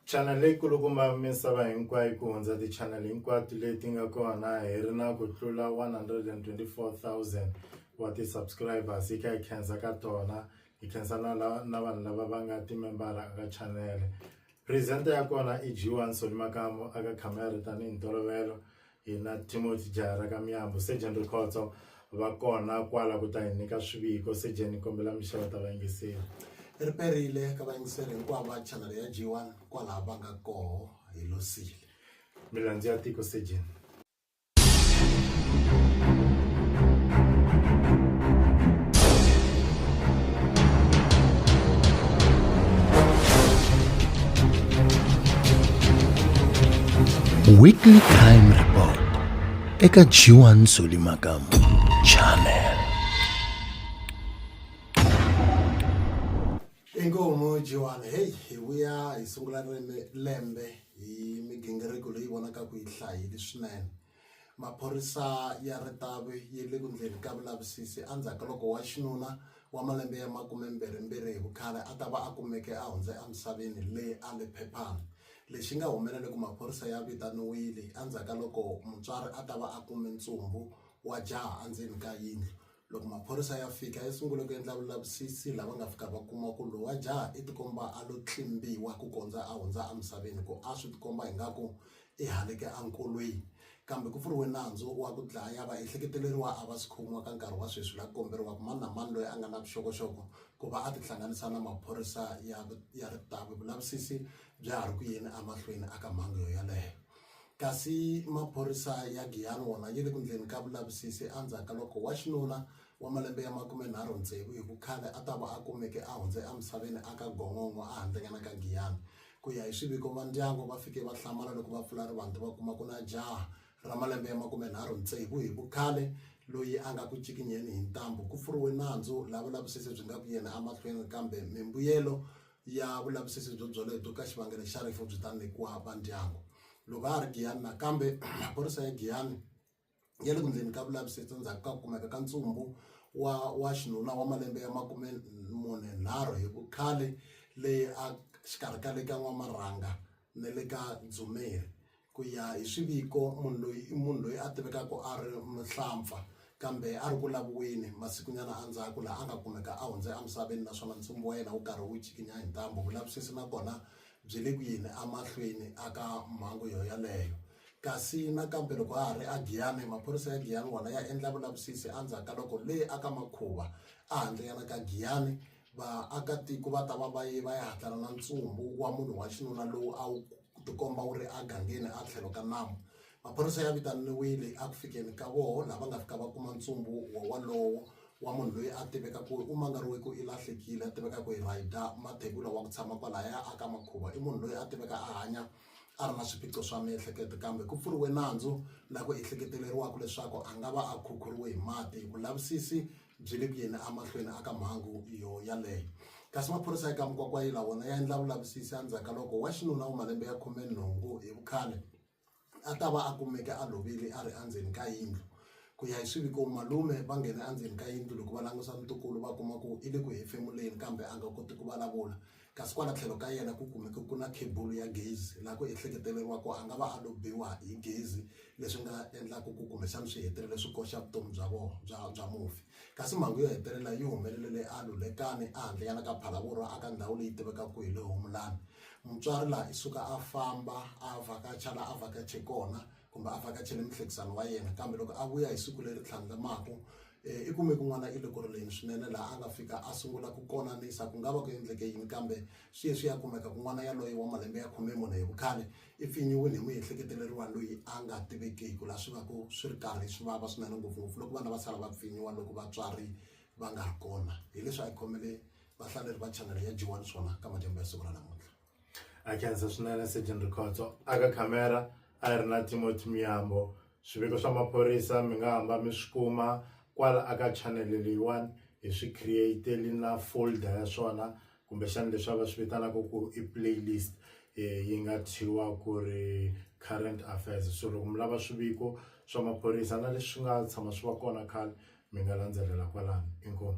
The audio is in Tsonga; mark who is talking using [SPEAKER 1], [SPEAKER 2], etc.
[SPEAKER 1] Chanele yi kulukumba misava hinkwayo ku hundza tichanele hinkwato leti nga kona hi ri na ku tlula 124,000 wa ti-subscribers hi kha hi khensa ka tona hi khensa na la na vanhu lava va nga timembara aka chanele presenter ya kona i G1 Soli Makamu aka camera tanihi ntolovelo Hina Timothy Jahara ka Myambu, Sejen Rikhotso va kona kwala ku ta hi nyika swiviko. Sejen ni kombela mi xeweta vayingiseri. Ri perile
[SPEAKER 2] ka vayingiseri hinkwavo va chanele ya G1 kwalaho va nga koho. Hi losile. Milandzu ya
[SPEAKER 1] tiko, Sejen.
[SPEAKER 3] weekly crime report eka g1 zoli makamu channel
[SPEAKER 2] inkomu g1 heyi hi vuya hi sungula lembe hi migingiriko leyi vonaka ku yi hlayile swinene Maphorisa ya ritavi yi le ku ndleni ka vulavisisi endzhaku ka loko wa xinuna wa malembe ya makumembirhimbirhi hi vukhale a ta va a kumeke a hundze emisaveni le Alepepan. Lexi nga humelela i ku maphorisa ya vitaniwile endzhaku ka loko mutswari a ta va a kume ntsumbu wa jaha endzeni ka yindlu. Loko maphorisa ya fika ya sungule ku endla vulavisisi laha va nga fika va kuma ku lowa jaha i tikomba a lo tlimbiwa ku kondza a hundza emisaveni ku a swi tikomba ingaku i haleke enkolweni kambe ku pfuriwe nandzu wa ku dlaya vaehleketeleriwa a va si khomiwa ka nkarhi wa sweswi laha ku komberiwaka mani na mani loyi a nga na vuxokoxoko ku va a tihlanganisa na maphorisa ya ya ritavi vulavisisi bya ha ri ku yeni emahlweni a ka mhangu yo yeleyo Kasi maphorisa ya Giyani wona yi le ku ndleni ka vulavisisi endzhaku ka loko wa xinuna wa malembe ya makumenharhu tsevu hi vukhale a ta va a kumeke a hundze emisaveni aka Gongongo ehandlenyana ka Giyani. Ku ya hi swiviko va ndyango va fike va hlamala loko va pfula rivanti va kuma ku na jaha ra malembe ya makumenharhu tsevu hi vukhale loyi a nga ku cikinyeni hi ntambu. Ku pfuriwe nandzu laha vulavisisi byi nga ku yeni emahlweni kambe mimbuyelo ya vulavisisi byo byolebyo ka xivangelo xa rifu byi ta nyikiwa va ndyangu loko a ha ri Giyani nakambe maphorisa ya Giyani ya le ku ndleni ka vulavisisi endzhaku ka ku kumeka ka ntsumbu wa wa xinuna wa malembe ya makume mune nharhu hi vukhale leyi a xikarhi ka le ka N'wamarhanga ni le ka Dzumeri. Ku ya hi swiviko, munhu loyi i munhu loyi a tivekaka a ri muhlampfa kambe a ri ku laviweni masikunyana endzhaku laha a nga kumeka a hundze emisaveni naswona ntsumbu wa yena wu karhi wu cikinya hi ntambu. Vulavisisi na kona byi le ku yeni emahlweni eka mhangu yoyaleyo. Kasi nakambe loko ha ha ri eGiyani, maphorisa ya Giyani wona ya endla vulavisisi endzhaku ka loko le aka Makhuva ehandlenyana ka Giyani Vaakatiko va ta va va ye va ya hatlana na ntsumbu wa munhu wa xinuna lowu a wu tikomba wu ri egangeni etlhelo ka nambu. Maphorisa ya vitaniwile eku fikeni ka vona laha va nga fika va kuma ntsumbu wowalowo wa munhu loyi a tiveka ku u mangariwe ku i lahlekile a tiveka ku hi Raidah Mathebula wa ku tshama kwalaya a ka Makhuva i munhu loyi a tiveka a hanya a ri na swiphiqo swa miehleketo kambe ku pfuriwe nandzu la ku ehleketeleriwaka leswaku a nga va a khukhuriwe hi mati vulavisisi byi le ku yeni amahlweni aka mhangu yo yaleyo kasi maphorisa eka mukwakwayila wona ya endla vulavisisi endzhaku ka loko wa xinuna wa malembe ya khume nhungu hi vukhale a ta va a kumeke a lovile a ri endzeni ka yindlu ku ya hi swiviko malume va nghene endzeni ka yindlu loko va langusa ntukulu va kuma ku i le ku hefemuleni kambe a nga koti ku vulavula kasi kwala tlhelo ka yena ku kumeke ku na khebulu ya gezi laha ku ehleketeleriwa ku a nga va a lo biwa hi gezi leswi nga endlaka ku kumbexana swi hetelele swi koxa vutomi bya vona bya bya mufi kasi mhangu yo hetelela yi humelele le a lulekani ehandle yana ka phalavoro a ka ndhawu leyi tivekaka ku hi le humulani mutswari laha i suka a famba a vhakacha laha a vhakache kona kumbe a vhakachele muhlekisani wa yena kambe loko a vuya hi siku leri tlhandlamaku I kume kun'wana eLokololeni swinene laha a nga fika a sungula ku konanisa ku nga va ku endleke yini kambe sweswi ya kumeka ku n'wana yaloye wa malembe ya khume mune hi vukhale i pfinyiwile hi muehleketeleriwa loyi a nga tivekiki laha swi va ku swi ri karhi swi vava swinene ngopfungopfu loko vana va sala va pfinyiwa loko vatswari va nga ri kona hileswi a hi khomele vahlaleri va chanele ya G1 swona ka madyambu ya siku ra namuntlha. a khensa
[SPEAKER 1] swinene sejen rikhotso aka khamera a ri na timothy miyambo swiviko swa maphorisa mi nga hamba mi swi kuma kwala aka chanele leyiwani hi swi createli na folder ya swona kumbexana leswi va swi vitanaka ku i playlist yi nga thyiwa ku ri current affairs so loko mi lava swiviko swa maphorisa na leswi nga tshama swi va kona khale mi nga landzelela kwalano inkomu.